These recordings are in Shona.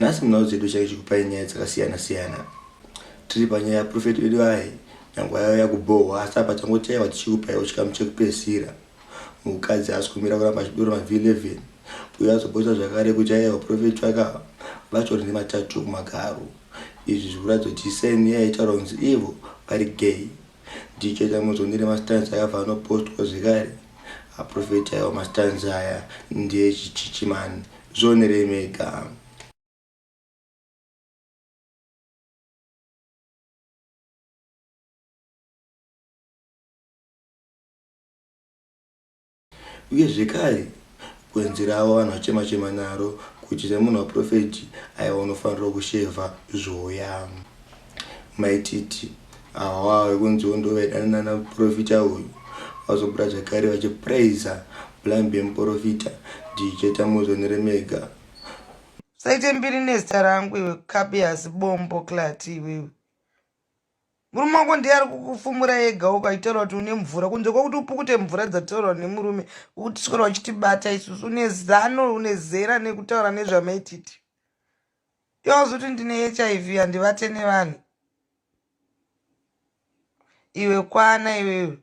Nhasi munhau dzedu chaicho kupai nyaya dzakasiyana siyana tiri panyaya yaprofeti vedu aye nyange yauya kubhohwa asi apa tangotaiwa tichikupaiwo chikamu chekupedzisira mukadzi haasi kumira kuramba achidura mavhi 11 uyo azobhosa zvakare kuti aye vaprofeti vakava vatori nematatu kumagaro izvi zvikuratidza kuti seni yaitaura kunzi ivo vari gay DJ Tamuzondire mastands akabva anopostwa zvekare aprofeti aiwa mastands aya ndeechichichi man zvionerei mega Uye zvekare, gwenzi ravo vanhu vachema chema naro kuti semunhu waprofeti aiwa unofanirwa kushevha zvoya. Maititi awa vekunziwo ndovaidana nana profita uyu vazobuda zvekare vachipraiser blambi yemuprofita DJ Tamuzo neremega. Usaite mbiri nezita rangu iwe kabias bombo klati iwewe. murume wako ndiye ari kukufumura ega ukaitaura kuti une mvura kunze kwekuti upukute mvura dzataurwa nemurume ukutiswera uchitibata isusu une zano une zera nekutaura nezvamaititi yawazoti ndine hiv handivate nevanhu iwe kwana iwewe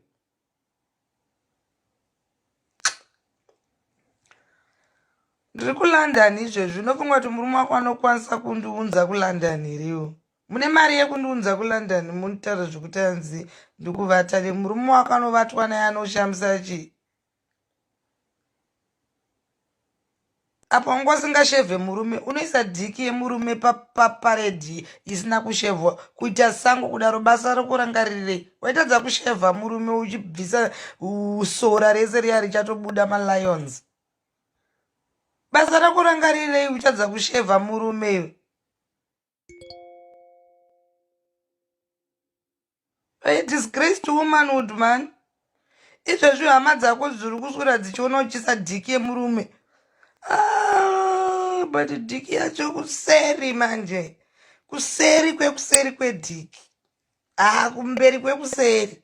ndiri kulondon izvezvi unofunga kuti murume wako anokwanisa kundiunza kulondon hiriwo Mune mari yekundiunza kuLondon munitaura zvekuti anzi ndikuvata ne murume wakanovatwa naye anoshamisa chi apa wanga usingashevhe murume unoisa dhiki yemurume paparedhi isina kushevhwa kuita sango kudaro basa rokurangarirei waitadza kushevha murume uchibvisa sora rese riya richatobuda malions basa rokurangarirei uchadza kushevha murume iwe I disgraced womanhood man izvezvi hama dzako dziri kuswera dzichiona uchisa dhiki yemurume ah, but dhiki yacho kuseri manje kuseri kwekuseri kwedhiki haa kumberi kwekuseri